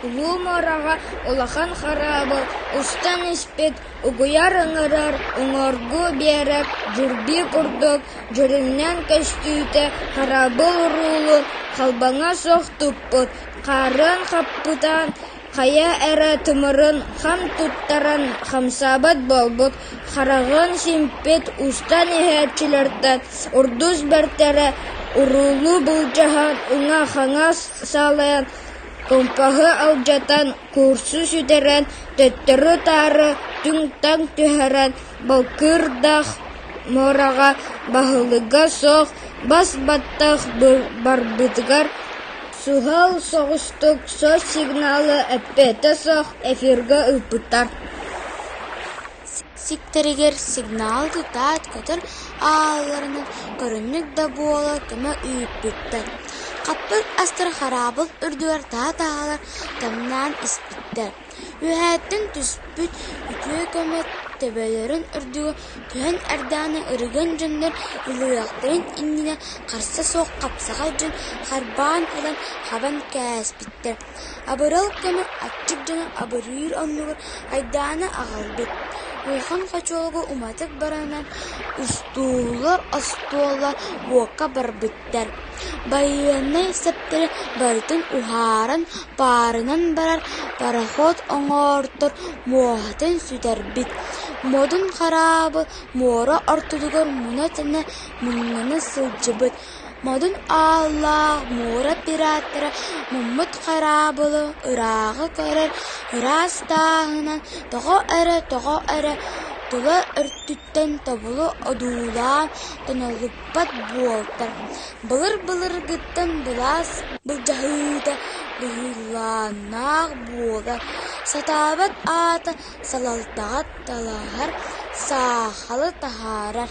Улуу муораҕа улахан хараабыл устан испит угуйар ыҥырар уҥуоргу биэрэр дьурбий курдук дьүрүннээн көстүүтэ хараабыл уруулун халбаҥа суох туппут, хаарын хаппытаан Хайа эрэ тымырын хам туттаран хамсаабат буолбут, хараҕын симпит устан иһээччилэртэн урдус бэртэрэ уруулуу былдьаһан, уҥа-хаҥас салайан, кумпаһы алдьатан, куурсу сүтэрэн, төттөрү-таары түҥ-таҥ түһэрэн, балкыырдаах муораҕа, баһылыга суох, бас баттах барбытыгар Суһал соҕустук сос сигналы эппиэтэ суох эфиргэ ыыппыттар сиктэригэр сигнал тутаат көтөр аалларынан көрүннүк да буола көмө ыыппыттар хаппыт астар хараабыл үрдүгэр таһа-таһалар тымнаан испиттэр Үөһээттэн түспүт үтүө көмө төбөлөрүн үрдүгэр түһэн эрдэҕинэ ырыган дьоннор Ылыахтарын иннинэ харса суох хапсаҕай дьон харбаан ылан хабан кээспиттэр, абырал көмө аччык дьону абырыыр оннугар айдааны аҕалбыт. Улахан хочуолга уматык баранан устуулар остуола уокка барбыт Байыаннай сэптэри барытын уһааран, паарынан барар пароход оҥортор муоһатын сүтэрбит, модун хараабы муора ортотугар муна-тэнэ муҥнана сылдьыбыт, модун ааллаах муора пираттара муммут хараабылы ырааҕы көрөр ыраас тааһынан тоҕо эрэ, тоҕо эрэ тула өртүттэ тобулу одуулаан тонолуппат буолтаҥ, былыр-былыргыттан былаас былдьаһыыта быһыылаах буола сатаабат аата салалтаҕа талаһар, саахалы таһаарар